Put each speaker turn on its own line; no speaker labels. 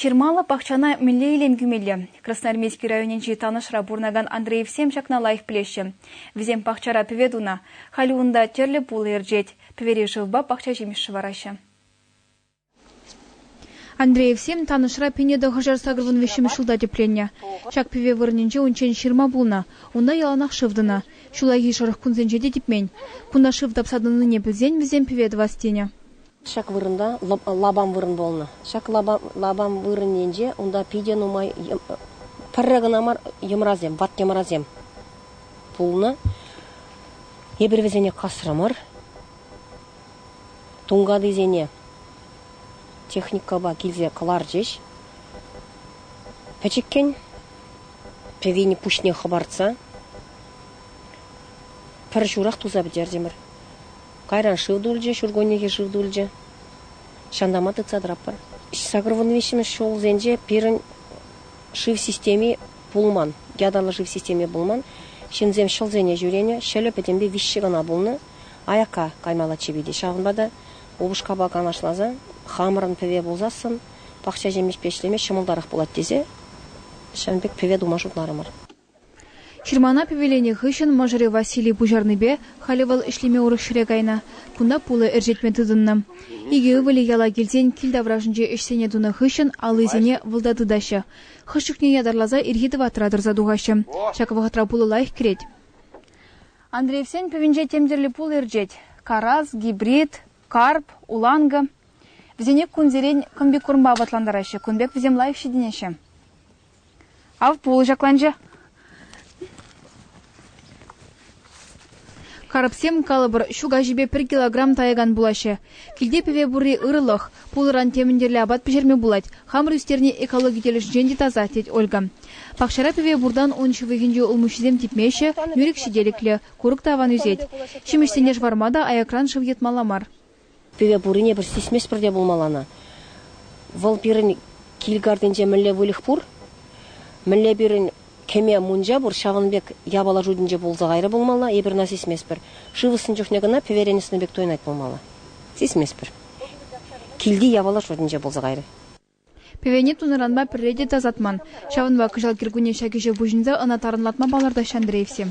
Ҫырмаллӑ пахчана мӗнле илем кӳмелле? Красноармейски районӗнчи Танӑшра пурӑнакан Андреевсем ҫакна лайӑх пӗлеҫҫӗ. Вӗсем пахчара пӗве тунӑ, халӗ унта тӗрлӗ пул ӗрчет, пӗвере шывпа пахча ҫимӗҫ шӑвараҫҫӗ. Андреевсем Танӑшра Пинеда хӑшар сакӑрвун виҫҫӗмӗш ҫулта тӗпленнӗ. Ҫак пӗве вырӑнӗнче унччен ҫырма пулнӑ, унта яланах шыв тӑнӑ. Ҫуллахи шӑрӑх кунсенче те типмен. Кунта шыв тапса тӑнине пӗлсен вӗсем пӗве тӑвас тенӗ. Ҫак вырӑнта лапам вырӑн пулнӑ. Ҫак лапам вырӑнӗнче унта питӗ нумай пӗрре кӑна мар йӑмрасем, ват йӑмрасем пулнӑ. Эпир вӗсене касрӑмӑр. Тункатисене техникӑпа килсе кӑларчӗҫ. Пӗчӗккӗн пӗвене пуҫне хӑпартса пӗр ҫурах туса пӗтертӗмӗр. Кайран шыв тулчӗ, ҫуркуннехи шыв тулчӗ. Ҫантама тытса тӑратпӑр. Сакӑр вун виҫҫӗмӗш ҫулсенче пирӗн шыв системи пулман, ятарлӑ шыв системи пулман. Ҫынсем ҫӑлсене ҫӳренӗ, ҫӑлӗ пӗтӗмпе виҫҫӗ кана пулнӑ. Аякка каймаллаччӗ пите. Ҫавӑнпа та упӑшкапа канашласа хамӑрӑн пӗве пулсассӑн пахча ҫимӗҫпе ӗҫлеме ҫӑмӑлтарах пулать тесе ҫавӑн пек пӗве тума шутларӑмӑр. Ҫырмана пӗвеленӗ хыҫҫӑн мӑшӑрӗ Василий пуҫарнипе халӗ вӑл ӗҫлеме урӑх ҫӗре кайнӑ. Кунта пулӑ ӗрчетме тытӑннӑ. Икӗ ывӑлӗ яла килсен кил таврашӗнче ӗҫсене тунӑ хыҫҫӑн аллисене вӑлта тытаҫҫӗ. Хӑш чухне ятарласа ирхи тӑватра тӑрса тухаҫҫӗ. Ҫак вӑхӑтра пулӑ лайӑх кӗрет. Андреевсен пӗвӗнче тем тӗрлӗ пулӑ ӗрчет. Карас, гибрид, карп, уланкӑ. Вӗсене кунсерен комбикормпа апатлантараҫҫӗ, кун пек вӗсем лайӑх ҫитӗнеҫҫӗ. Ав пулӑ ҫакланчӗ. Карӑпсем, калӑпӑр, ҫу каҫипе пӗр килограмм тайӑкан пулаҫҫӗ. Килте пӗве пурри ырӑлӑх. Пулӑран темӗн тӗрлӗ апат пӗҫерме пулать. Хамӑр ӳстерни экологи тӗлӗшӗнчен те таса, тет Ольга. Пахчара пӗве пуртан ун ҫывӑхӗнчи улмуҫҫисем типмеҫҫӗ, нӳрӗк ҫителӗклӗ, курӑк та аван ӳсет. Ҫимӗҫсене шӑварма та аякран шыв йӑтмалла мар. Пире пуррине пӗр сисместпӗр те пулмаллана. Вӑл пирӗн кил картинче мӗнле выльӑх пур, мӗнле пирӗн кӗме мунча пур, ҫавӑн пек япала шутӗнче пулса кайрӗ пулмалла. Эпир ӑна сисместпӗр. Шыв ӑсни чухне кӑна пӗверен ӑсни пек туйӑнать пулмалла. Сисместпӗр. Килти япала шутӗнче пулса кайрӗ. Пӗвене тунӑранпа пӗрре те тасатман. Ҫавӑнпа кӑҫал кӗркунне ҫак ӗҫе пуҫӑнса ӑна тарӑнлатма палӑртаҫҫӗ Андреевсем.